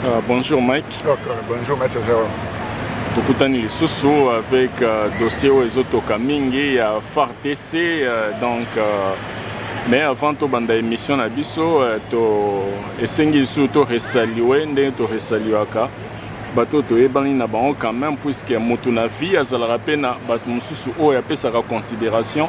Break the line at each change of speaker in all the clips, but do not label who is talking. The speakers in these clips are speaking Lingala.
Uh, bonjour Mike. Okay, bonjour Maître
Jérôme. tokutani
lisusu avec uh, dossier oyo ezotoka mingi ya uh, FARDC uh, donc uh, mais avant tobanda émission na biso uh, to esengi lisusu to resalue ndenge to resaluaka bato toyebani na bango quand même puisque motu na vie azalaka mpe na bato mosusu oyo apesaka considération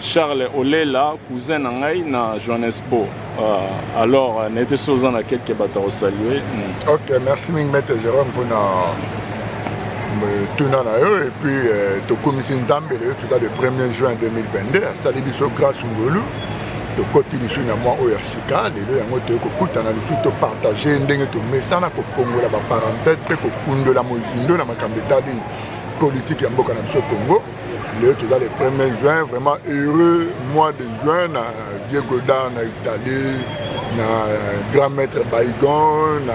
Charles olela cousin na ngai na Johannesburg uh, alors euh, nete so oza na quelque bato ya kosalue mm. ok merci
mingi maître Jérôme mpona tuna na yo epuis euh, tokomisi nzambe leyo toza le 1er juin 2022 asali biso grâce ngolu tokoti lisusu na mwa oyo ya sika lelo yango toye kokutana lisusu topartage ndenge tomesana kofongola baparenthèse mpe kokundola mozindo na makambo etali politike ya mboka na biso congo Leo toza le premier juin vraiment heureux mois de juin na vieux Godard na Italie na euh, grand maître Baigon na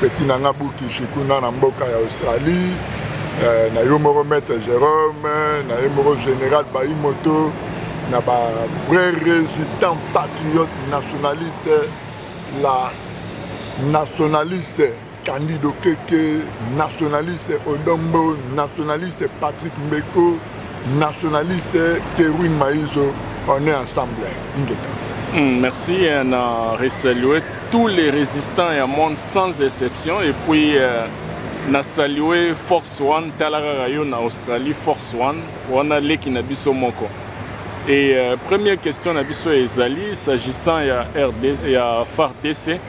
petit nanga Bukishi kuna na mboka ya Australie euh, na yo moko maître Jérôme na ye moko général Baimoto na ba vrai résident patriote nationaliste la nationaliste Candide Okeke, nationaliste Odon Mbo, nationaliste Patrick Mbeko, nationaliste Kerwin Maïzo, on est ensemble. Ingeta. Mm,
merci, on a resalué tous les résistants et monde sans exception et puis euh, na salué Force One, talaka rayo na Australie, Force One, wana leki na biso moko. Et euh, première question na biso ezali s'agissant ya RD, ya FARDC.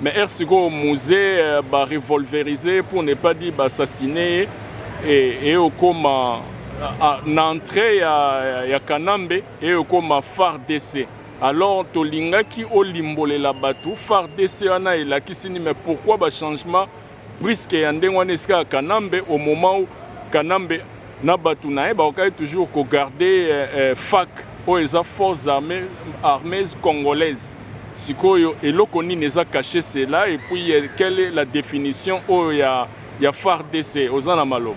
Mais heure sikoyo muze euh, ba revolverise pour ne pas dire baassassine ye et, et okoma na entrée ya, ya kanambe eye okoma fardc alors tolingaki olimbolela bato fardc wana elakisi nini mais pourquoi bachangement Prisque ya ndenge wana esika ya Kanambe au moment où Kanambe na bato na ye bakokaki toujours ko garder eh, eh, fac oyo eza forces armées, armées congolaises sikoyo eloko nini eza cache cela et puis eh, quelle est la définition oyo ya, ya FARDC oza na maloba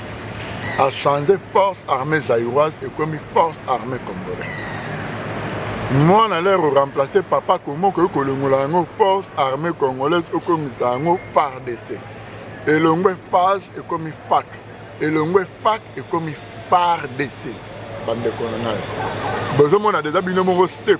a change force armée zaïroise ekomi force armée congolais mwana lero remplace papa kongo okoki kolongola yango force armée congolaise okomisa yango fardc elongwe fas ekomi fac elongwe fac ekomi fardc bandeko na ngai bozomona deja bino moko step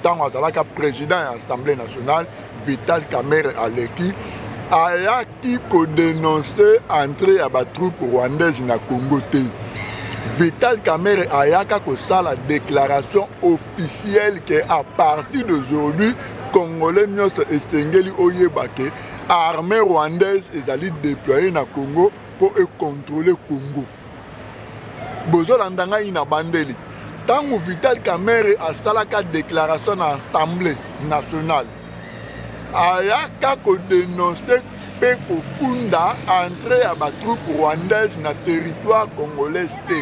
ntango azalaka président ya assemblée nationale vital kamere aleki ayaki kodenonse entrée ya batroupe rwandaise na congo te vital kamere ayaka kosala déclaration officielle ke à partir d'aujourd'hui congolais nyonso esengeli oyeba ke armée rwandaise ezali déploye na congo mpo ekontrole congo bozolanda ngai na bandeli ntango vital kamere asalaka déclaration na assemblée nationale ayaka kodenonse mpe kofunda entrée ya batroupe rwandaise na territoire congolaise te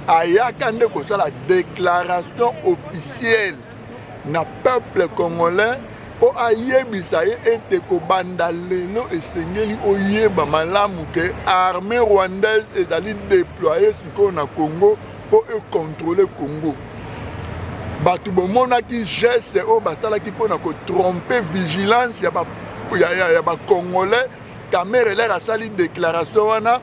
ayaka nde kosala déclaration officielle na peuple congolais mpo ayebisa ye ete kobanda lelo esengeli oyeba malamu ke armée rwandaise ezali deploye sikoyo na congo mpo ekontrole congo bato bomonaki geste oyo basalaki mpo na kotrompe vigilance ya bacongolais ba kamerelaire asali déclaration wana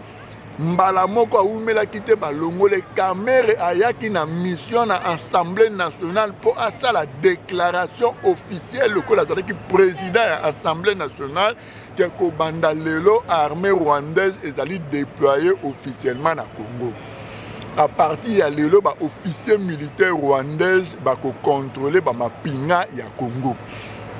Mbala moko awumelaki te balongole Kamerhe ayaki na mission na Assemblée nationale mpo asala déclaration officielle lokola azalaki président ya Assemblée nationale ke kobanda lelo armée rwandaise ezali déployée officiellement na Congo. À partir ya lelo ba officiers militaires rwandaise bakocontrôler ba mapinga ya Congo.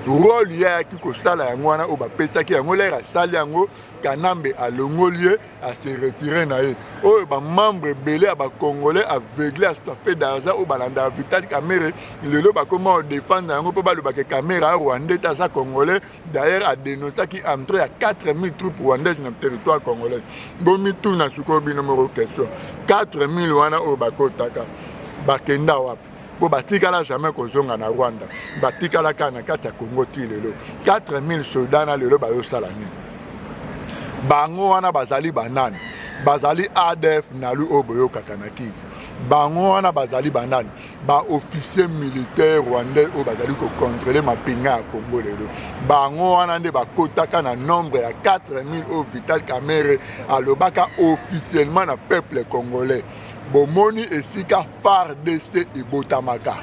Rôle ye ayaki kosala yango wana oyo bapesaki yango lere asali yango Kanambe alongoli ye a se retirer na ye oyo ba membre ebele ya ba congolais aveugle asusu afe d'argent oyo balandaka Vital Kamerhe lelo bakoma odefendre yango mpo balobaka Kamerhe a rwandais te aza congolais d'ailleurs adenoncaki entrée ya 4000 troupes rwandaises na territoire congolais bomituna sikoyo bino moko question 4000 wana oyo bakotaka bakenda wapi mpo batikala jamais kozonga na rwanda batikala kaka na kati ya congo ti lelo 4000 soda na lelo bayosala nini bango wana bazali banani bazali adf nalu oyo boyokaka na kivu bango wana bazali banani baofficier militaire rwandais oyo bazali kokontrole mapinga ya congo lelo bango wana nde bakotaka na nombre ya 4000 oyo vital kamere alobaka officiellement na peuple congolais Bomoni esika FARDC ebotamaka.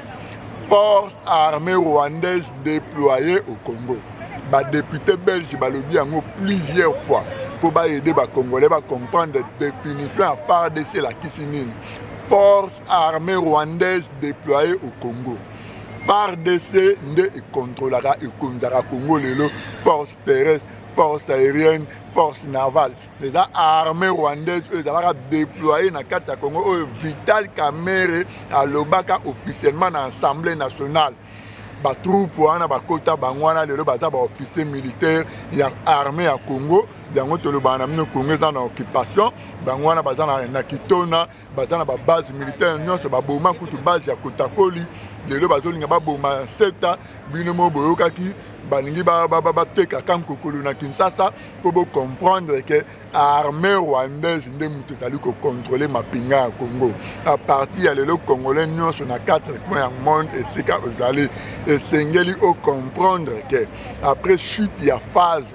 Force armée rwandaise déployée au Congo. Ba députés belges balobi yango plusieurs fois mpo baede bacongolais bacomprendre définition ya FARDC elakisi nini. Force armée rwandaise déployée au Congo. FARDC nde ekontrolaka ekonzaka Congo lelo force terrestre, force aérienne, force navale. eza armée rwandaise oyo ezalaka déploye na kati ya congo oyo vital kamere alobaka officiellement na assemblée nationale batroupe wana bakota bango wana lelo baza baofficier militaire ya armée ya congo yango tolobaka na bino congo eza na occupation bango wana baza na kitona baza na babase militaire nyonso baboma kutu base ya kotakoli lelo bazolinga baboma seta bino mo boyokaki balingi bateka kankokolo na kinshasa mpo bocomprendre ke armée rwandaise nde moto ezali kokontrole mapinga ya congo a partir ya lelo congolais nyonso na 4 coin ya monde esika ozali esengeli ocomprendre ke après chute ya phase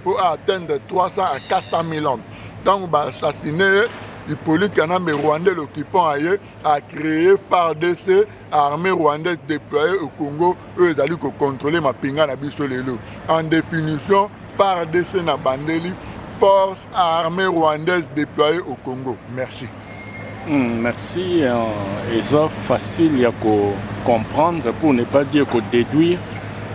mpo a atteindre 300 à 400 000 hommes ntango ba assassine ye Hippolyte Kanambe rwandais l'occupant aye a créé FARDC armée rwandaise déployée au Congo oyo ezali kocontrôle mapinga na biso lelo en définition FARDC na bandeli force armée rwandaise déployée au Congo merci Hum, merci.
Euh, eza facile ya ko comprendre pour ne pas dire ko déduire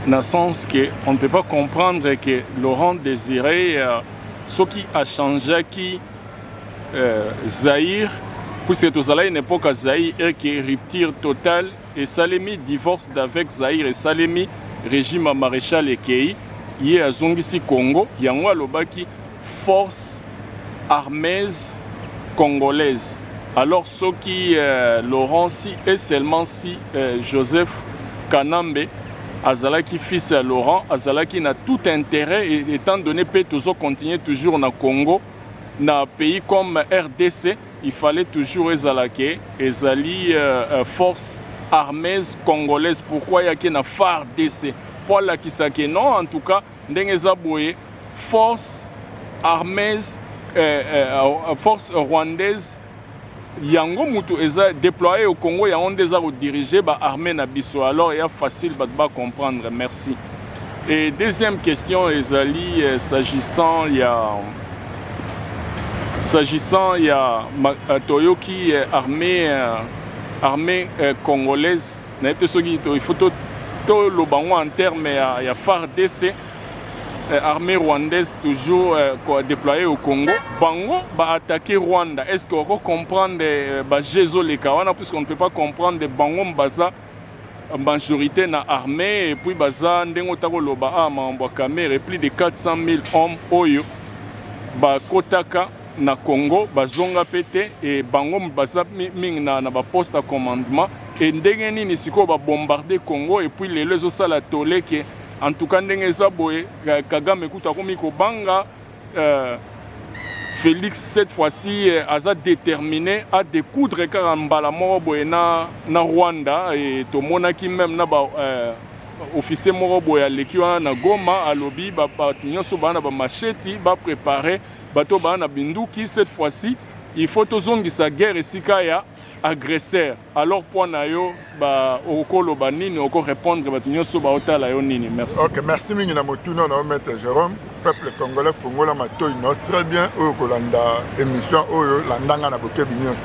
na sens que on ne peut pas comprendre que Laurent Désiré euh, soki achangeaki euh, Zaïre puisque tozalaki na époque ya Zaïre et que rupture totale esalemi divorce d'avec Zaïre esalemi régime ya maréchal ekei ye azongisi Congo yango alobaki forces armees congolaises alors soki Laurent si et seulement si Joseph kanambe azalaki fils ya Laurent azalaki na tout interet etant donne pe tozo continuer toujours na Congo na pays comme rdc il fallait toujours ezala ke ezali forces armees congolaises pourquoi yaki na fardc po alakisa ke non en tout cas Ndenge eza boye force armes eh, eh, eh, force rwandaise yango mutu eza déployé au Congo yango nde eza kodirige ba armée na biso alors ya facile bato ba comprendre merci et deuxième question ezali eh, s'agissant ya s'agissant ya eh, toyoki eh, armée armée congolaise nayebi te soki il faut toloba yango en terme ya, ya fardc eh, armée rwandaise toujours eh, kodeploye au congo bango baattaque rwanda est ce que oko comprendre eh, baje ezoleka wana puisque on ne peut pas comprendre bango baza majorité na armée et puis baza ndenge ota koloba a ah, makambo ya kamere plus de 400 000 hommes oyo bakotaka na congo bazonga mpe te e bango baza mingi na, na baposte ya commandement Et ndenge nini sikoyo ba bombarde Congo et puis lelo ezo sala tole que en tout cas ndenge eza boye Kagame kutu akomi kobanga euh, Felix cette fois-ci euh, aza déterminé à découdre kaka mbala moko boye na, na Rwanda et tomonaki même na ba euh, officier moko boye aleki wana na Goma alobi bato nyonso baa na bamasheti baprepare bato baa na binduki cette fois-ci il faut tozongisa guerre esika ya agresseur alors point na yo ba okoloba nini oko répondre bato nyonso baotala yo nini merci ok merci mingi na
motuna na yo maître jérôme peuple congolais fongola matoi no très bien oyo kolanda émission oyo landanga na bokebi nyonso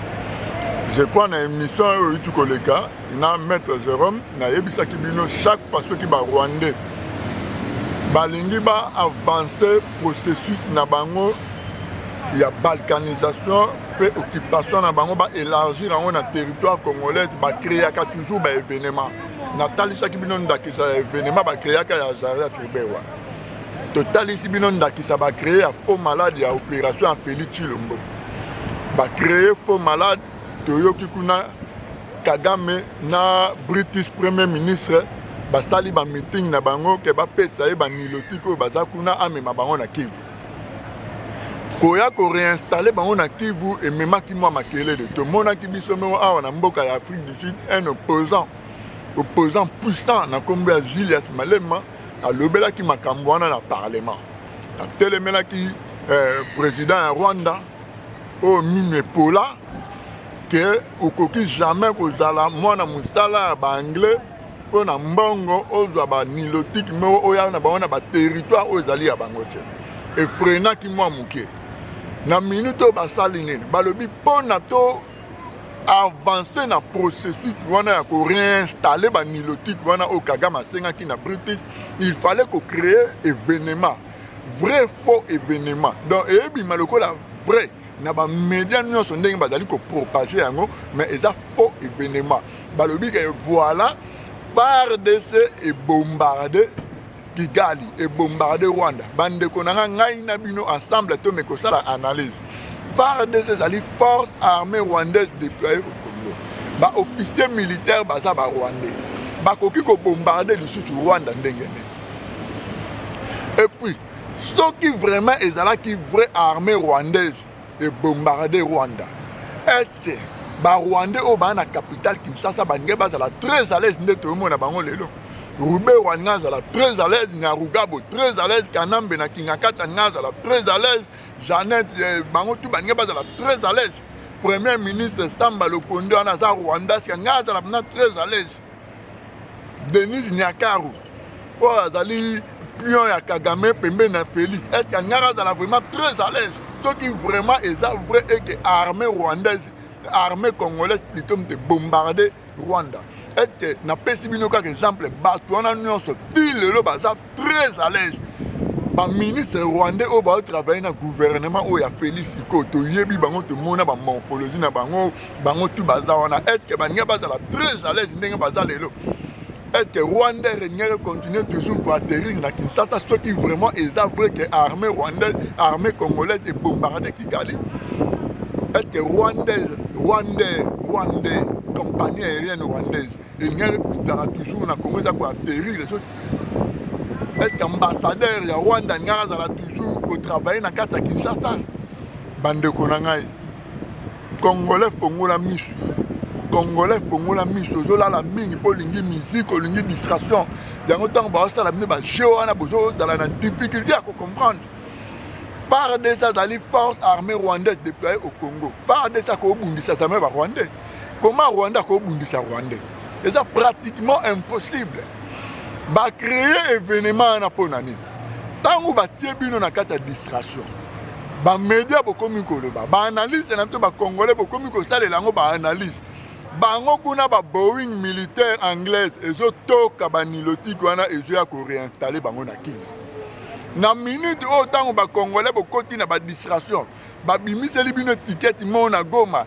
je crois na émission oyo oyuti koleka na maître jérôme nayebisaki bino chaque fois soki barwandais balingi ba avancer processus na bango ya balkanisation mpe occupation na bango ba élargir yango na territoire congolais ba créaka toujours ba événement natalisaki bino ndakisa ya événement ba créaka ya jardin turbewa totalisi bino ndakisa ba créer ya faux malade ya opération ya feli chilombo ba créer faux malade toyoki kuna kagame na british premier ministre basali ba meeting na bango ke bapesa ye banilotiki oyo baza kuna amema bango na kivu koya ko reinstaller bango na Kivu ememaki mwa makelele. Tomonaki biso moko awa na mboka ya Afrique du Sud un opposant opposant puissant na nkombo ya Julius Malema alobelaki makambo wana na parlement, atelemelaki eh, president ya Rwanda oyo mimi epola ke okoki jamais kozala mwana mosala ya baanglais mpo na mbongo ozwa ba nilotique moko oya na bango na baterritoire oyo ezali ya bango te efrenaki mwa moke na minute oyo basali nini balobi mpo na to avance na processus wana ya koreinstalle banilotique wana oyo kagame asengaki na british il fallait kocree événement vrai faux événement donc eyebima lokola vrai na bamedia nyonso ndenge bazali kopropage yango mais eza faux événement balobi ke voilà fardc ebombarde kigali ebombarde rwanda bandeko na ngai ngai na bino ensemble tome kosala analyse fardc ezali force armée rwandaise déployée au congo baofficier militaire baza barwandais bakoki kobombarde lisusu rwanda ndenge nini epuis soki vraiment ezalaki vraie armée rwandaise ebombarde rwanda estce barwandais oyo baa na capitale kinshasa balingai bazala très à l'aise nde toyomona bango lelo rubero alinga azala très à l'aise nyarugabo très à l'aise kanambe na kingakati alinga azala très à l'aise janete eh, bango tu balingai bazala très à l'aise premier ministre samba lokondo wana aza rwandasi alinga azala mna très à l'aise Denise Nyakaru oyo azali pion ya Kagame pembeni na Felix eske angaka azala vraiment très à l'aise soki vraiment eza vrai eke armée rwandaise armée congolaise plutôt mte bombarde Rwanda eske napesi bino kaka exemple bato wana nyonso ti lelo baza très à l'aise baministre rwandais oyo baotravaille na gouvernement oyo ya félix sikoyo toyebi bango tomona bamorphologie na bango bango tu baza wana etke baninga bazala très à l'aise ndenge baza lelo etke rwandais regnere continue toujours koatterrir na kinshasa soki vraiment eza vrai ke armée rwandaise armée congolaise ebombarde kigali etke rwandaise rwandais rwandais compagnie aérienne rwandaise Eliane ekutaka toujours na Congo eza koaterrir ezo être ambassadeur ya Rwanda ngai azala toujours kotravaille na kati ya Kinshasa bandeko na ngai congolais fongola misu congolais fongola miso ozolala mingi mpo olingi musique olingi distraction yango ntango baosala bino bajeu wana bozozala na difficulté ya kocomprendre fardc azali force armée rwandaise déploye au congo fardc akobundisa zame barwandais Comment Rwanda ko bundisa Rwandais? Eza pratiquement impossible. Ba créer événement wana mpo na nini? Ntango batie bino na kati ya distraction, bamedia bokomi koloba, baanalyse na biso bakongole bokomi kosalela yango baanalyse bango kuna ba boeing militaire anglaise ezotoka banilotiki wana ezoya koreinstalle bango na kivu na minute oyo ntango bakongole bokoti na badistraction babimiseli bino etiketi mona goma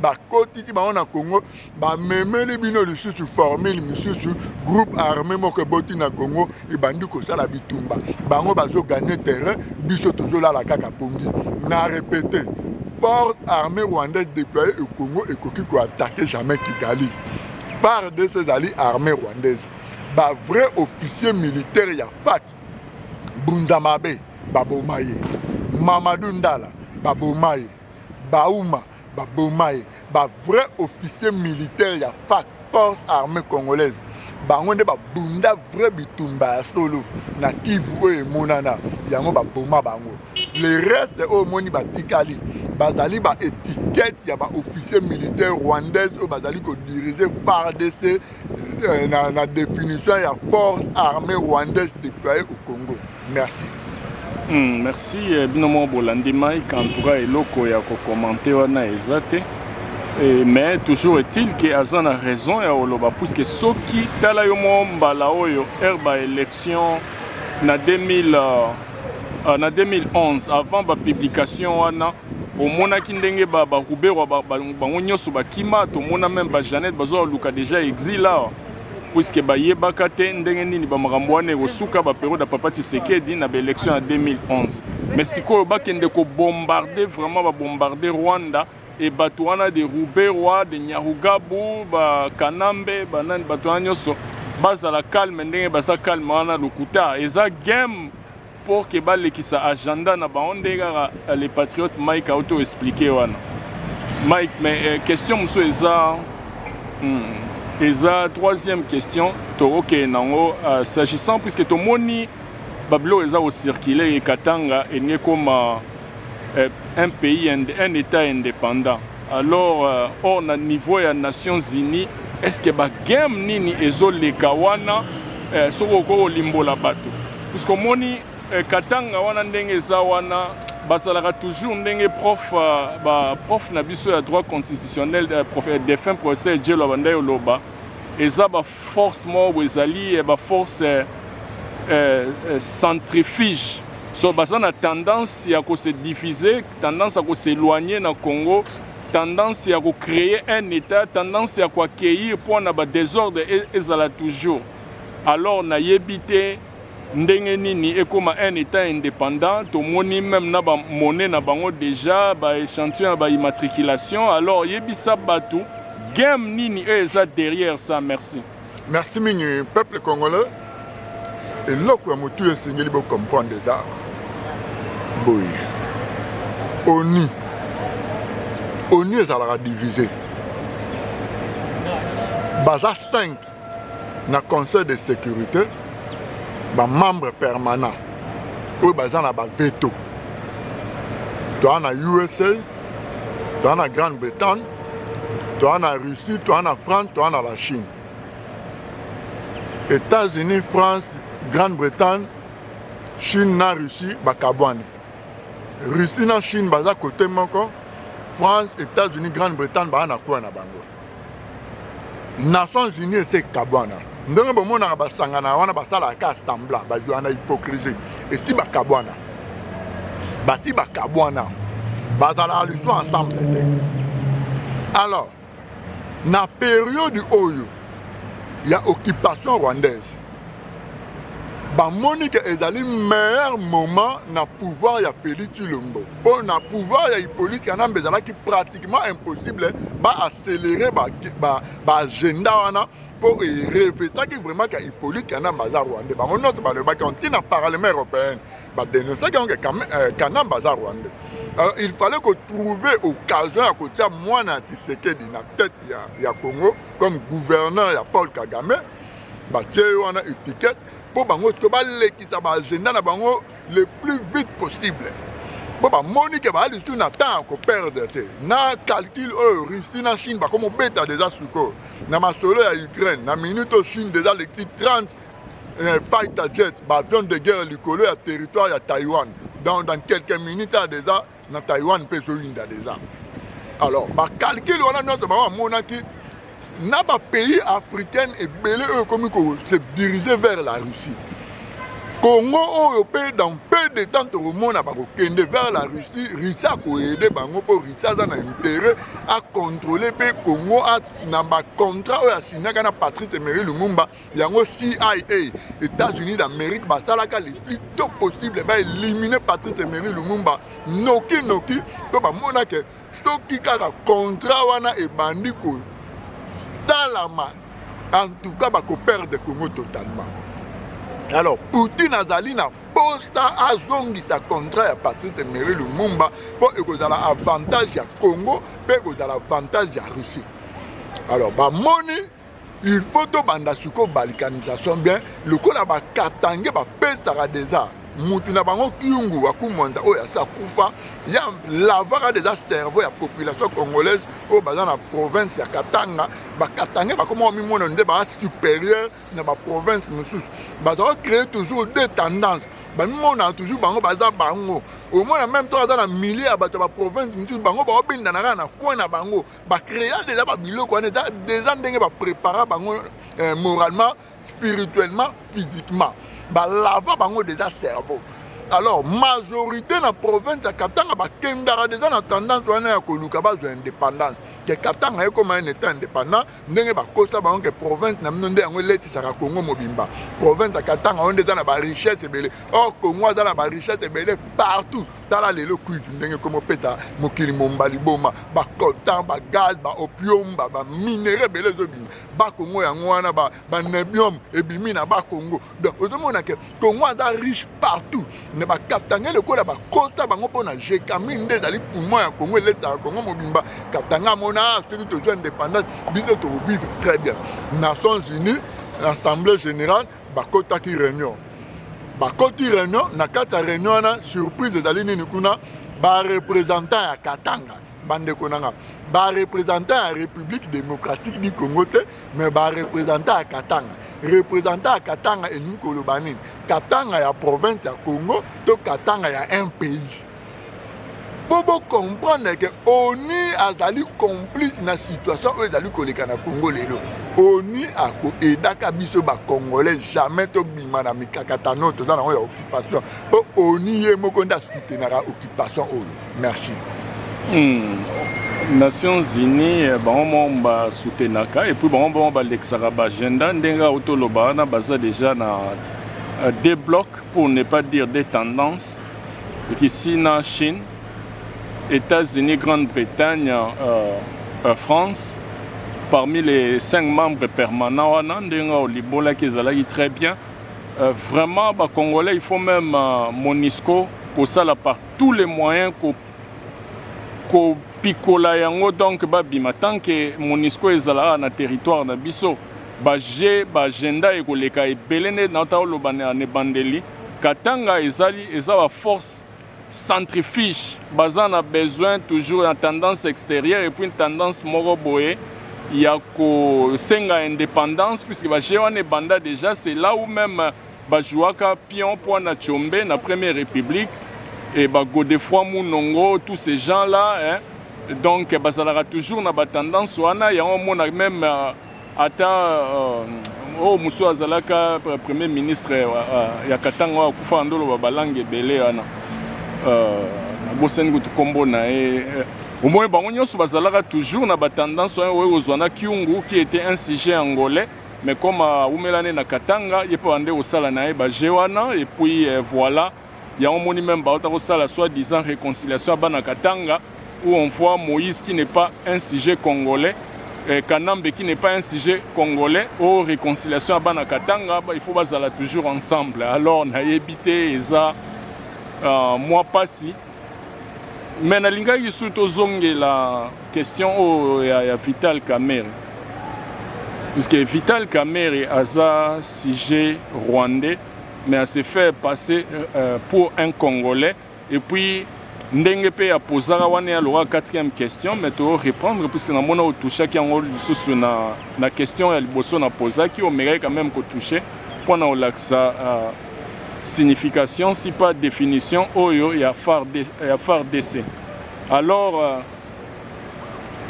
bakotisi bango na congo bamemeli bino lisusu formule misusu groupe armé moko eboti na congo ebandi kosala bitumba bango bazoganye terrain biso tozolala kaka pongi na repete port armé rwandais déploye e congo ekoki koatake jamais kigali par de ces ali armée rwandaise bavrai officier militaire ya fat bunzamabe baboma ye mamadou ndala baboma ye bauma Ba boma ye ba vrai officier militaire ya FAC force armée congolaise bango nde ba bunda vrai bitumba ya solo na Kivu oyo emonana yango ba boma bango le reste oyo omoni batikali bazali ba etiquette ya ba officier militaire rwandaise oyo bazali ko diriger FARDC euh, na, na définition ya force armée rwandaise déployée au Congo. Merci. Mm,
merci eh, bino moko bolandi mike en tout cas eloko ya kokomante wana eza te eh, mais toujours est-il ke aza na raison ya koloba puiske soki tala yo moko mbala oyo heure ba élection na 2000 uh, na 2011 avant bapublication wana omonaki ndenge ba ba ruberwa ba, ba, bango nyonso bakima tomona meme ba janete bazoluka deja exil awa puiske bayebaka te ndenge nini bamakambo wana ekosuka baperiode ya papa tisekedi na baelection ya 2011 mais sikoyo bakende kobombarde vraiment babombarde rwanda e bato wana de ruberwa de nyarugabu bakanambe banani bato wana nyonso bazala calme ndenge baza calme wana lokuta eza game pour que ba lekisa agenda na bango nde kaka euh, le patriote Mike auto expliquer wana Mike mais euh, question musu eza hmm, eza troisième question tokokende nango euh, s'agissant puisque tomoni babilo eza kocircule ye katanga elingi ekoma euh, un pays un état indépendant Alors or na niveau ya Nations Unies est ce que ba game nini ezo leka wana eh, soki okoki kolimbola bato puisque omoni eh, Katanga wana ndenge eza wana basalaka toujours ndenge prof euh, ba prof na biso ya droit constitutionnel euh, prof, euh, défunt professeur Djelo abandaki oloba eza ba Force moko boye ezali eh, ba force eh, eh, eh, centrifuge so baza na tendance ya ko se diviser, tendance ya ko s'éloigner na Congo, tendance ya ko créer un état, tendance ya ko accueillir mpo na ba désordre e, ezala toujours. Alors nayebi te Ndenge nini ekoma un etat independant? Tomoni meme na ba monnaie na bango dejà ba echantillon ya ba immatriculation alors yebisa batu game nini oyo eza derrière ça merci. Merci mingi
peuple congolais eloko ya motu esengeli bo comprendre eza boye onu onu ezalaka divise baza 5 na conseil de sécurité ba membre permanent oyo baza na ba veto toa na usa toa na grande bretagne toa na russie toa na france toa na la chine états-unis france grande bretagne chine na russie bakabwani russie na chine baza kote moko france états-unis grande bretagne baa na kuwa na bango nations unis esi ekabwana ndenge bomonaka basangana wana basalaka ka sambla bazwa na hypocrisie esi bakabwana basi bakabwana bazalaka lisu ensemble te alors na periode oyo ya occupation rwandaise bamoni ke ezali meilleur moment na pouvoir ya Feli Tshilombo mpo na pouvoir ya Hippolyte Kanambe ezalaki pratiquement impossible ba accélere ba, ba, ba agenda wana mpo erefetaki vraiment ka Hippolyte Kanambe aza rwandais bango nyonso balobaki yango ntina parlement européenne badenosaki yango ke euh, Kanambe aza rwandais alors il fallait kotrouver occasion ya kotia mwana ya Tshisekedi na tete ya, ya Congo comme gouverneur ya Paul Kagame batie yo wana etiquette mpo bango to balekisa baagenda na bango le plus vite possible mpo bamoni ke baa lisusu na temps ya koperdre te na calcul oyo russie na chine bakoma obeta deja sikoyo na masolo ya ukraine na minute oyo chine deja lekisi 30 eh, fighter jet baavion de guerre likolo ya territoire ya taiwan dans, dans quelques minutes a deja na Taiwan mpe ezoyinda deja. Alors bakalkile wana nyonso bango bamonaki na bapays africaine ebele oyo ekomi kose dirige vers la Russie. Congo oyo mpe dans peu de temps tokomona bakokende vers la Russie, Russie akoyede bango mpo Russie aza na intérêt akontrole mpe Congo na bacontrat oyo asignaka na Patrice Emery Lumumba yango cia états-unis d'amérique basalaka le plus tôt possible baélimine patrice emery lumumba noki noki mpo bamona ke soki kaka contrat wana ebandi kosalama en tout cas bakoperdre congo totalement alors poutine azali na posta azongisa contrat ya patrice emery lumumba mpo ekozala avantage ya congo mpe ekozala avantage ya russie alors bamoni il faut tobanda sikoyo balkanisation bien lokola bakatange bapesaka deja mutu na bango kiungu wa kumwanza oyo asi akufa ya lavaka deja cerveau ya population congolaise oyo baza na province ya katanga bakatange bakoma bamimona nde baa supérieur na baprovince mosusu bazala créer toujours deux tendances bamimona toujours bango baza bango omona meme to aza na milieu ya bato ya baprovince mosusu bango baobendanaka na coin na bango ba créa déjà ba biloko wana eza déjà ndenge ba prépara bango eh, moralement spirituellement physiquement balava bango déjà cerveau alors majorité na province ya katanga bakendaka deja na tendance wana ya koluka bazwa indépendance ke katanga ekoma un état indépendant ndenge bakosa bango ke province na bino nde yango eletisaka congo mobimba province ya katanga oyo nde eza na barichesse ebele or congo aza na barichesse ebele partout tala lelo cuive ndenge ekomi opesa mokili momba liboma bacoltan bagaz baopium baminere ebele ezobima bakongo yango wana banebium ebimi na bakongo donc ozomona ke kongo aza riche partout na bakatanga lokola bakota bango mpo na jekami nde ezali poumon ya kongo elesaka kongo mobimba katanga mona ah, soki tozwa indépendance biso tokovivre très bien nations unis assemblée générale bakotaki reunion bakoti reunion na kati ya reunion wana surprise ezali nini kuna barepresentant ya katanga bandeko na nga barepresentant ya république démocratique du congo te mais barepresentant ya katanga representant ya katanga elingi koloba nini katanga ya province ya congo to katanga ya un pays mpo bocomprendre ke onu azali complice na situation oyo ezali koleka na congo lelo onu akoedaka biso bacongolais jamais tobima na mikakatano toza nango ya occupation mpo onu ye moko nde asutenaka occupation oyo merci hmm.
nations unis eh, bango moko basutenaka epuis bango moko balekisaka baagenda ndenge autoloba wana baza deja na euh, deux blocs pour ne pas dire des tendances Russie na Chine, Etats-Unis, Grande-Bretagne, euh, euh, France, parmi les cinq membres permanents wana ndenge olibolaki ezalaki très bien euh, vraiment bacongolais il faut même euh, monisco kosala par tous les moyens ko, ko pikola yango donc babima tant que monisco ezalaka na territoire na biso baje baagenda ekoleka ebele nde naotaloba na ebandeli Katanga ezali eza ba force centrifuge baza na besoin toujours na tendance exterieur et puis tendance moko boye ya ko senga independance puisque ba jeu wana ebanda dejà c'est là où même ba jouaka pion po na Tshombe na première république et ba Godefroy Munongo tous ces gens là hein donc bazalaka toujours na ba tendance wana yango mona même euh, ata euh, oyo mosusu azalaka premier ministre euh, euh, ya katanga oyo akufa na ndoloba balange ebele wana nabosani kutu nkombo na ye omoni bango nyonso bazalaka toujours na batendance oyo oyo kozwa na kiungu qui était un sujet angolais mais comme awumela nde na katanga ye mpe bande kosala na ye baje wana epuis voilà Yango omoni meme bauta kosala soit disant reconciliation ya bana Katanga où on voit Moïse qui n'est pas un sujet congolais eh, Kanambe qui n'est pas un sujet congolais o oh, reconciliation ya bana Katanga il faut bazala toujours ensemble alors nayebi te eza uh, mwa pasi me nalingaki lisusu tozongela question oyo oh, ya, ya vital kamere puisque vital kamere aza sujet rwandais mais à se faire passer euh, pour un congolais et puis ndenge pe ya pozaka wana ya loka quatrième question mais to reprendre puisque na mona otushaki yango lisusu na, na question ya liboso na pozaki omekaki quand même kotouche mpo na olakisa uh, signification si pas définition oyo ya fardc alors uh,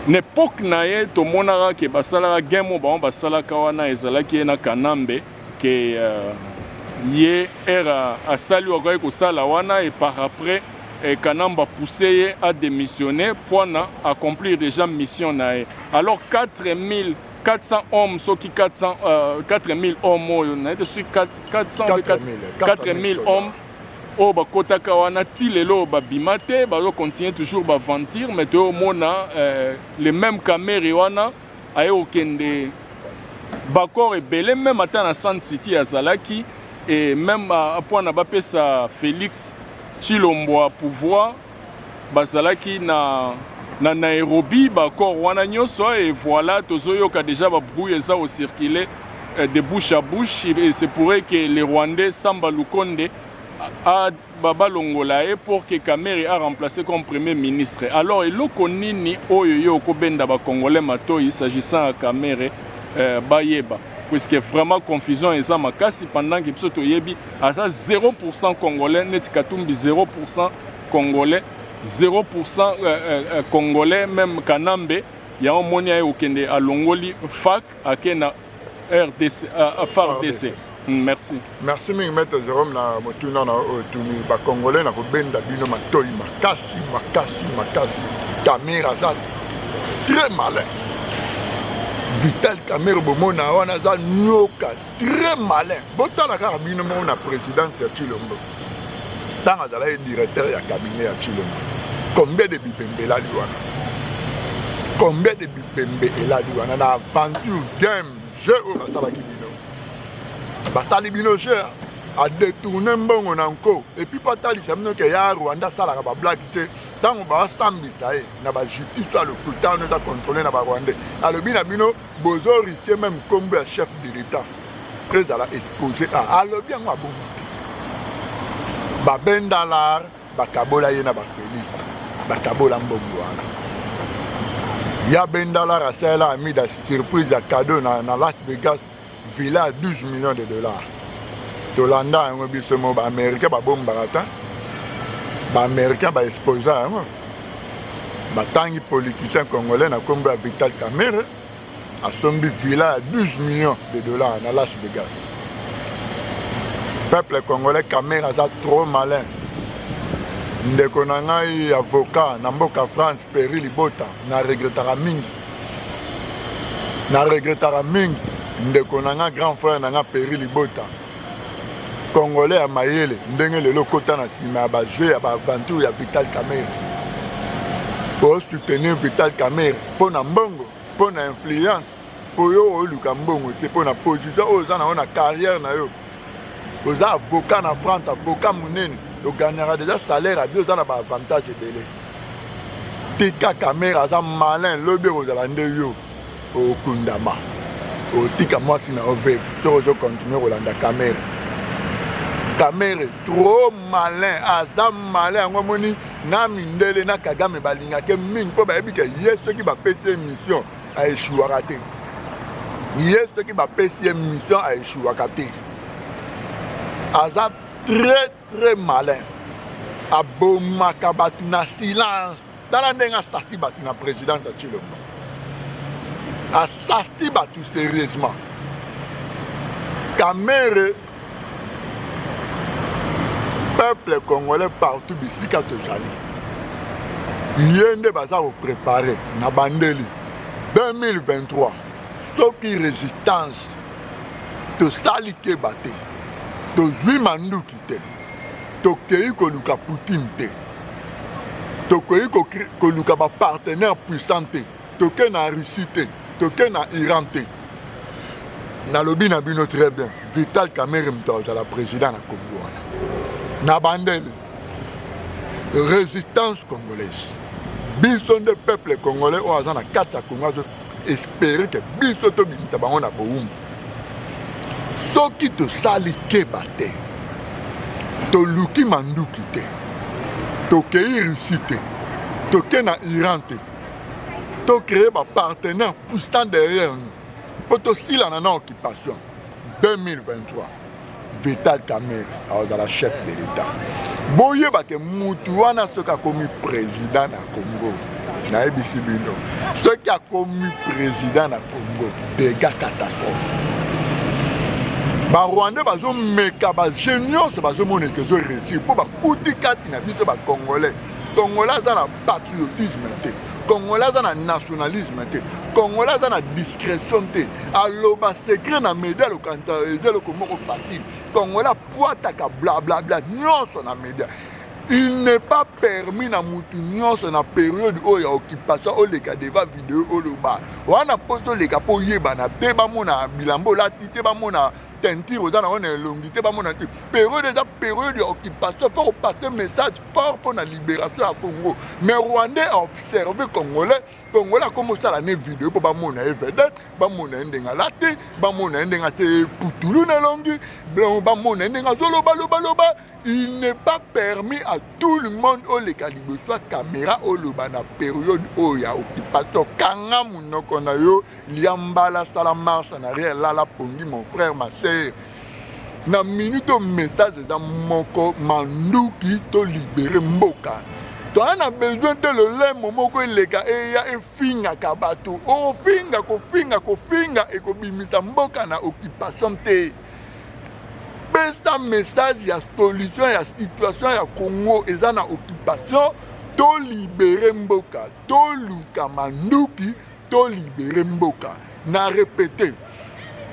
na epoke na ye tomonaka ke basalaka game oyo bango basalaka wana ezalaki ye na kanambe que euh, ye era asali wakaki kosala wana et par après eh, Kanamba poussé ye a démissionner pour na accomplir déjà mission na ye alors 4000 400 hommes soki 400 euh, 4000 hommes oyo na ete soki 400 4000 hommes oyo bakotaka wana ti lelo babima te bazocontinue toujours baventure mais toyomona euh, le même kamere wana aye kokende bacor ebele meme ata na sand city azalaki e meme apwana bapesa félix chilombwa pouvoir bazalaki na na nairobi bacor wana nyonso e voilà tozoyoka déjà babruit eza kocircule eh, de bouche à bouche e se pourrait que le rwandais samba lukonde a ba balongola ye pour que Kamerhe a remplacer comme premier ministre alors eloko nini oyo yo oko benda ba congolais matoyi s'agissant ya Kamerhe euh, bayeba puisque vraiment confusion eza makasi pendant que biso toyebi aza 0% congolais neti Katumbi 0% congolais 0% euh, euh, euh, congolais même Kanambe yango moni aye kokende alongoli fac ake na RDC, uh, FARDC. Mm, merci. Merci mingi maître
Jérôme na motuna na oyo euh, tuni ba congolais na kobenda bino matoi makasi makasi makasi. Kamera aza très malin. Vital Kamera bomona wana aza nyoka très malin. Botala kaka bino moko na présidence ya Tshilombo. Tanga azalaki directeur ya cabinet ya Tshilombo. Combien de bipembe elali wana? Combien de bipembe elali wana na aventure game jeu oyo basalaki bino? Basali bino jeu hein? a détourner mbongo na nko epuis mpo atalisa bino ke ya rwanda asalaka bablage te ntango baasambisa ye na bajustice ya lokuta wana eza controle na barwandais alobi na bino Bozo risque meme kombo ya chef de l'etat ezala expose a ah, alobi yango abongi te babendalar bakabola ye na bafelis bakabola mbongo wana ya bendalar asalela amida surprise ya cadeau na, na las vegas villa ya 12 millions de dollars tolanda yango biso mo baaméricain babombaka ta baaméricain baexposa yango batangi politicien congolais na kombo ya vital camere asombi villa ya 12 millions de dollars na las vegas peuple congolais camere aza trop malin ndeko na ngai avocat na mboka france peri libota na regretaka mingi na regretaka mingi ndeko na ngai grand frère na ngai peri libota Congolais ya mayele ndenge lelo kota na sima ya ba jeu ya ba aventure ya Vital Kamerhe. Pour soutenir Vital Kamerhe mpo na mbongo, mpo na influence, mpo yo oluka mbongo te, mpo na position oyo oza na yo na carrière na yo. Oza avocat na France, avocat munene, ogagnaka deja salaire abi oza na ba avantage ebele. Tika Kamerhe aza malin, lobi ekozala nde yo. Okundama otika mwasi na yo veve to ozo continue kolanda kamere kamere trop malin aza malin yango omoni na mindele na kagame balingake mingi mpo bayebi ke ye soki bapesi ye mission aeshuwaka te ye soki bapesi ye mission aeshuwaka te aza très très malin abomaka bato na silence tala ndenge asarti bato na présidence ya tshilombo asarti bato sérieusement kamere peuple congolais partout bisika tozali ye nde baza koprépare na bandeli 2023 soki résistance tosali keba te tozwi manduki te tokei koluka poutine te tokoki koluka bapartenaire puissant te toke na russie te toke na iran te nalobi na bino très bien vital kamere moto azala président na congo wana na bandele résistance congolaise biso nde peuple congolais oyo aza na kati ya congo espere ke biso tobimisa bango na bowumbu soki tosali keba te toluki manduki te tokei russie te toke na iran te tocreye bapartenaire puissant derrière nous mpo tosilana na occupation 2023 vital kamer akozala chef de l'etat boyeba ke mutu wana soki akomi président na congo nayebisi bino soki akomi président na congo dega catastrophe barwandais bazomeka baje nyonso bazomona ete ezoreusir mpo bakuti kati na biso bacongolais congolais aza na patriotisme te congolais aza na nationalisme te congolais aza na discrétion te aloba secret na media alokanisa eza eloko moko facile congolais apwataka blablabla nyonso na media il n'est pas permis na mutu nyonso na periode oyo ya occupation oleka deva video oloba wana mposo oleka mpo oyebana te bamona bilamba olati te bamona teinture oza nango na elongi te bamona te periode eza periode ya occupation fo kopase message fort mpo na libération ya congo mais rwandais aobserve congolais congolais akomi osala ne video mpo bamona ye vedette bamona ye ndenge alati bamona ye ndenge atie putulu na elongi bamona ye ndenge azolobalobaloba il n'est pas permis à tout le monde oleka liboso ya kamera oloba na periode oyo ya occupation kanga monoko na yo lia mbala sala marche na rien lala pongi mon frère ma sœur na minute oyo message eza moko manduki to libere mboka toza na besoin te lolemo moko eleka eya efingaka bato ofinga kofinga kofinga ekobimisa mboka na occupation te pesa message ya solution ya situation ya congo eza na occupation tolibere mboka toluka manduki To libere mboka na repete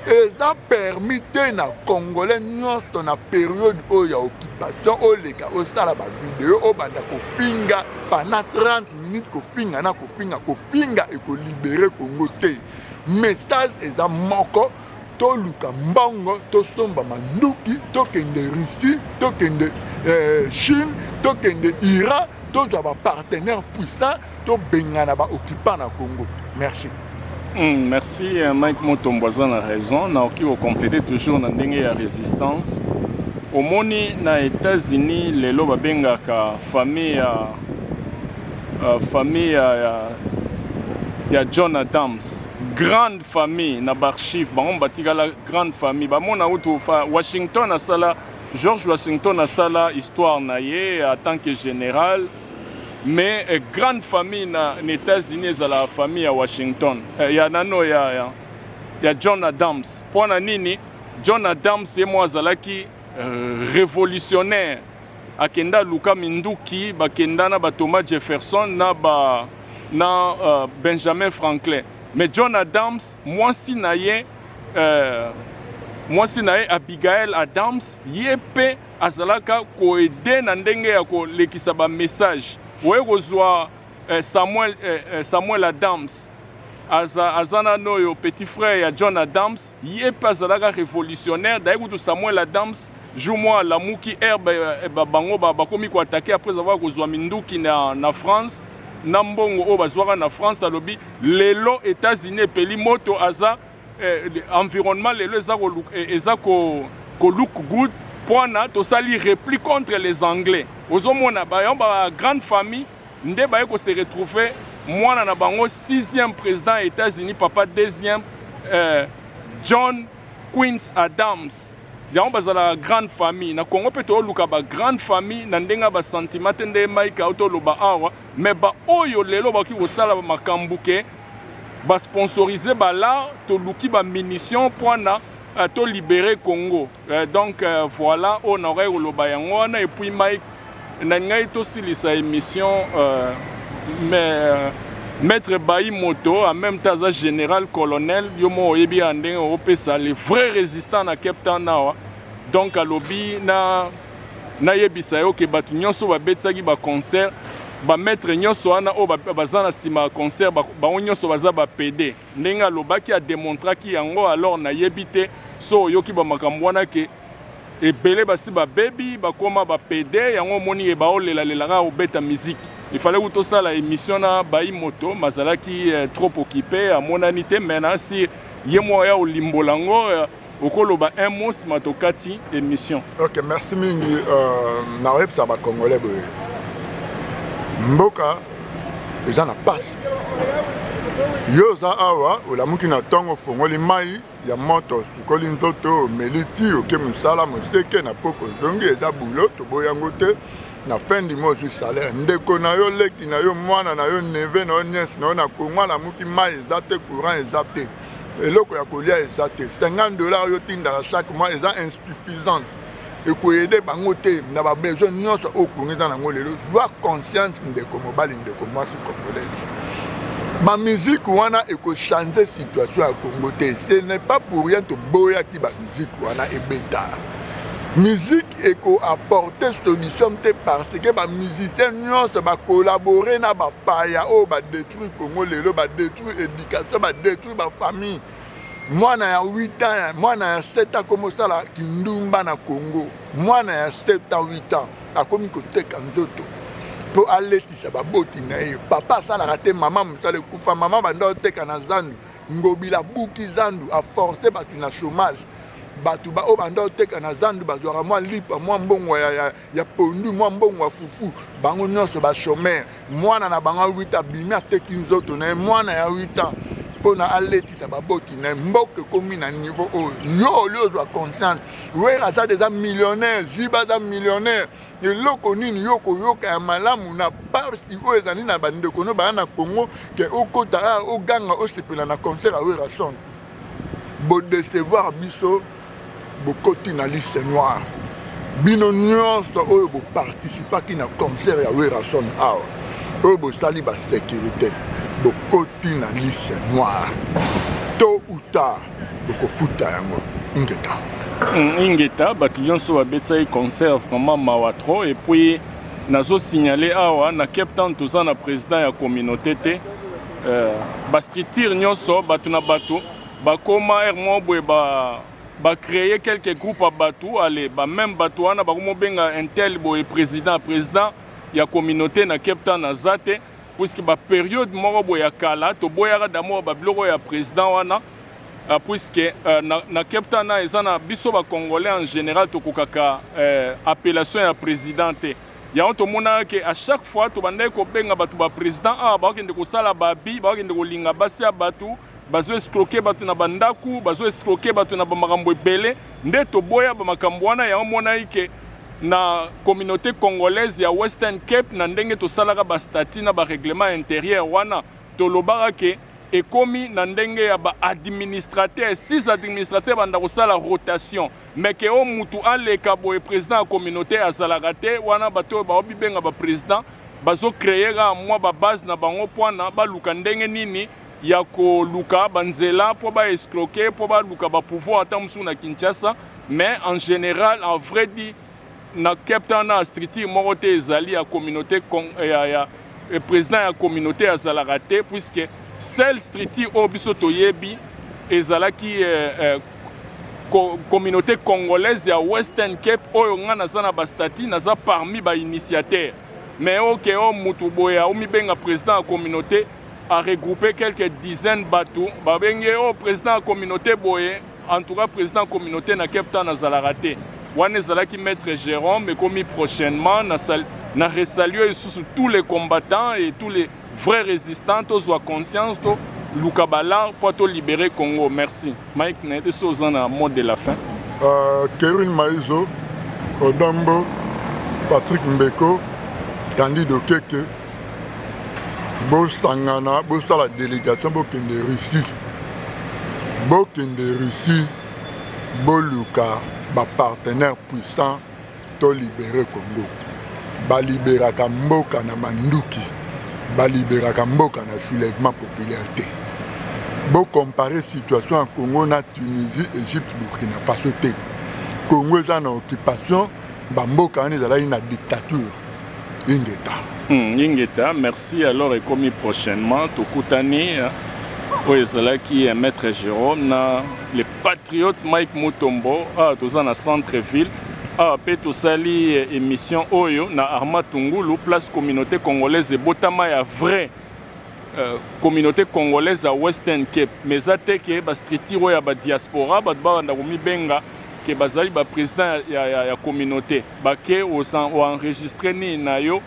eza permis te na congolais nyonso na periode oyo ya occupation oleka osala bavideo obanda kofinga pana 30 minutes kofinga na kofinga kofinga ekolibere kongo te message eza moko toluka mbongo tosomba manduki tokende russie tokende eh, chine tokende iran tozwa bapartenaire puissant To bengana ba occupants na Congo. Merci. Mm, merci
euh, Mike Motombo aza na raison na oki kocomplete toujours na ndenge ya résistance omoni na États-Unis lelo babengaka famille ya uh, famille ya, ya, ya John Adams grande famille na baarchive bango batikala grande famille bamona utu Washington asala George Washington asala histoire na ye en tant que général Mais eh, grande famille na, na États-Unis ezala famille ya Washington eh, ya nano ya, ya, ya John Adams. Mpo na nini John Adams ye moko azalaki eh, révolutionnaire, akenda luka minduki, bakenda na ba Thomas Jefferson na ba na uh, Benjamin Franklin. Mais John Adams mwasi na ye eh, mwasi na ye Abigail Adams ye mpe Azalaka ko aider na ndenge ya ko lekisa ba messages. Oye kozua eh, Samuel, eh, eh, Samuel Adams aza, aza na noyo petit frère ya John Adams ye pe azalaka révolutionnaire d'ailleurs kutu Samuel Adams jour moi alamuki herbe eh, ba, bango ba, bakomi koatake après avoir kozwa minduki na, na France na mbongo oyo bazwaka na France alobi lelo États-Unis epeli moto aza eh, environnement lelo eza ko eh, eza ko ko look good pwana tosali repli contre les anglais ozomona bayo ba grande famille nde baye ko se retrouver mwana na bango 6e président ya États-Unis papa 2e eh, John Quince Adams yango bazala grande famille na Congo mpe tooluka ba grande famille na ndenge ya basentiment te nde Mike autoloba awa me baoyo lelo bakoki kosala makambo ke Ba sponsoriser bala toluki ba munitions pwana euh, to libere Congo euh, donc euh, voilà oyo nakokaki koloba yango wana et puis Mike na ngai tosilisa émission euh, mais euh, maître bayi moto en même temps aza général colonel yo moko oyebi ya ndenge opesa le vrai résistant na Cape Town awa donc alobi na nayebisa yo ke bato nyonso babetisaki baconcert bamaitre nyonso wana oyo baza na nsima ya concert bango nyonso baza bapede ndenge alobaki ademontraki yango alors nayebi te so oyoki bamakambo wana ke ebele basi babebi bakoma bapede yango omoni ye baolelalela kaka kobeta miziki ifale kutu osala emission na bai moto mazalaki eh, trop okipe amonani te me nasi ye moko ya olimbola yango eh, okoloba un mot nsima tokati
émission ok
merci
mingi euh, nakoyebisa bacongolais
boye
mboka eza na mpasi yo oza awa olamuki na ntongo ofongoli mai ya moto osukoli nzoto omeli ti oke mosala moseke na poko ozongi eza bulo toboya yango te na fin du mois ozwi salaire ndeko na yo leki na yo mwana na yo neve na yo niese na yo na kongo alamuki mai eza te courant eza te eloko ya kolia eza te 50 dollars yo tindaka chaque mois eza insuffisante ekoyede bango te na babesoin nyonso oyo kongo eza nango lelo zwa conscience ndeko mobali ndeko mwasi congolaise bamiziki wana ekochange situation ya kongo te ce n'est pas pour rien toboyaki bamiziki wana ebeta miziki ekoapporte solution te parce que bamusicien nyonso bakolabore na bapaya oyo badetruire kongo lelo badetruire baeducation badetruire bafamille mwana ya 8 ans mwana ya 7 ans akomi kosala kindumba na congo mwana ya 7 ans 8 ans akomi koteka nzoto mpo aletisa baboti na ye papa asalaka te mama mosala ekufa mama banda oteka na zandu ngobila abuki zandu aforce bato na chômage bato baoyo banda oteka na zandu bazwaka mwa lipa mwa mbongo ya, ya, ya pondu mwa mbongo ya fufu bango nyonso bachomere mwana na bango ya 8 abimi ateki nzoto na ye mwana ya 8 ans mpo na aletisa baboti na ye mboka ekomi na niveau oyo yo oli ozwa conscience wera aza deja millionnaire jiba aza millionnaire eloko nini yo koyoka ya malamu na parsi oyo ezali na bandeko no baya na congo ke okota oganga osepela na concert ya wera son bodecevoir biso bokoti na liste noire bino nyonso oyo boparticipaki na concert ya werrason awa oyo bosali basécurité bokoti na liste noire to uta bokofuta yango ingeta hmm, ingeta
bato nyonso babetisaki concert vraiment mawa trop epuis nazosignale awa na cape town toza na président ya communauté te euh, bastructure nyonso bato na bato Bakoma heure moko boye ba ba créer quelques groupes ya bato ale ba meme bato wana bakomobenga intel boye président président ya communauté na Cape Town aza te puisque ba periode moko boye ya kala toboyaka d'amour ba biloko ya président wana Euh, puisque euh, na, na Cape Town na eza na biso ba congolais en général tokokaka euh, appellation ya président te yango tomonaka ke à chaque fois tobandaki kobenga bato ba président awa bakokende kosala babi bakokende kolinga basi ya bato bazo escroquer bato na bandako bazo escroquer bato na bamakambo ebele nde toboya bamakambo wana yango monaki ke na communauté congolaise ya western cape na ndenge tosalaka bastati na barèglement intérieur wana tolobaka ke ekomi na ndenge ya baadministrateur six administrateur banda kosala rotation meke oyo mutu aleka boye président ya communauté azalaka te wana bato oyo baobibenga baprésident bazocreye kaka mwa babase na bango mpona baluka ndenge nini ya koluka ba nzela po ba escroquer po baluka ba pouvoir ata mosusu na Kinshasa mais en general en vrai dit na Cape Town na structure moko te ezali ya communauté eh, ya, ya eh, président ya communauté azalaka te puisque seule structure oyo biso toyebi ezalaki eh, eh, communauté congolaise ya Western Cape oyo nga naza na ba statut naza parmi ba initiateur mais oke okay, o oh, mutu boya omibenga président ya communauté a regroupe quelques dizaines batu babengi ye oh president ya communaute boye en tout cas president ya communaute na cape town azalaka te wana ezalaki maître jérôme ekomi prochainement na, sal, na resalue lisusu tous les combattants et tous les vrais résistants tozwa conscience toluka balare mpo tolibere congo merci Mike na yebi so oza na mot de la fin. Uh, Kerwin
Maizo, Odambo, Patrick Mbeko, Candide Okeke, bosangana bosala délégation bokende Russie. Bokende Russie, boluka ba partenaires puissants To libere Congo. Ba liberaka mboka na manduki. Ba liberaka mboka na soulèvement populaire te. Bo comparer situation ya Congo na Tunisie, Egypte, Burkina Faso te. Congo eza na occupation, ba mboka wana ezalaki na dictature. Ingeta. Hmm,
ingeta, merci alors ekomi prochainement tokutani oyo ezalaki maître Jérôme na Patriote Mike Mutombo, awa toza na centre ville awa mpe tosali eh, émission oyo na Arma Tungulu place communauté congolaise ebotama ya vrai euh, communauté congolaise ya Western Cape mais eza te ke bastructure oyo ya badiaspora bato babanda komibenga ke bazali baprésident ya, ya, ya, ya communauté bake oenregistre nini na yo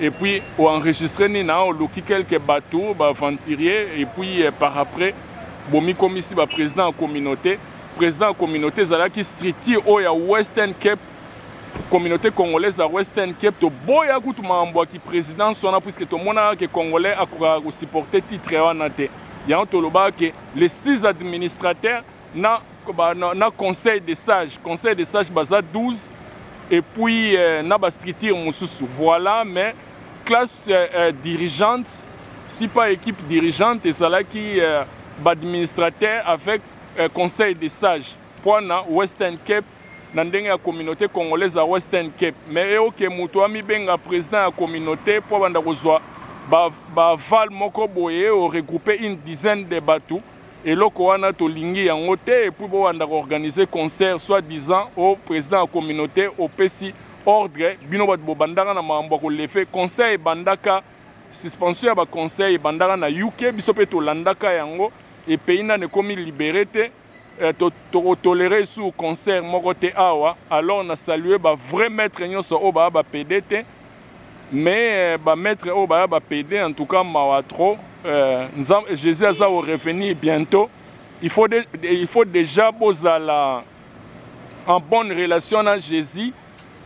et puis o enregistrer ni na oluki quelques bateaux ba aventuriers et puis eh, par après bomikomisi ba président ya communauté président ya communauté ezalaki structure oyo ya western cape communauté congolaise ya western cape toboya kutu makambo ya kiprésidence wana puiske tomonaka ke congolais akokaka kosupporte titre wana te yango tolobaka ke les six administrateurs na, ba, na, na conseil de sage conseil de sage baza 12 et puis euh, na bastructure mosusu voilà mais classe euh, euh, dirigeante si pas équipe dirigeante ezalaki euh, baadministrateur avec euh, conseil de sage mpo na western cape na ndenge ya communauté congolaise ya western cape mais eyoke moto amibenga président ya communauté mpo abanda kozwa baval ba moko boye oregroupe une dizaine de bato Eloko wana tolingi yango te et puis bobanda ko organiser concert soit disant o president ya communaute opesi ordre bino batu bobandaka na makambo ya kolefe concert ebandaka suspension ya ba concert ebandaka na UK biso pe tolandaka yango et pays nanu ekomi libere te eh, to, toko tolere sur concert moko te awa alors na salue ba vrai maître nyonso oyo baa ba pede te Mais ba maitre oyo baya ba pede en tout cas mawa trop euh, Jesus aza au revenir bientôt il faut, de, il faut déjà bozala en bonne relation na Jésus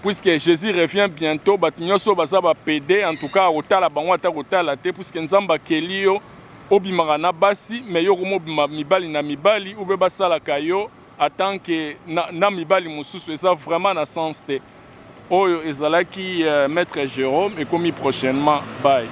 puisque Jésus revient bientôt bato nyonso baza ba pede en tout cas akotala bango ata kotala te puisque Nzambe akeli yo obimaka na basi mais yo komobima mibali na mibali ube basalaka yo atanke na, na mibali mosusu eza vraiment na sens te Oyo ezalaki maitre Jerome ekomi prochainement bye.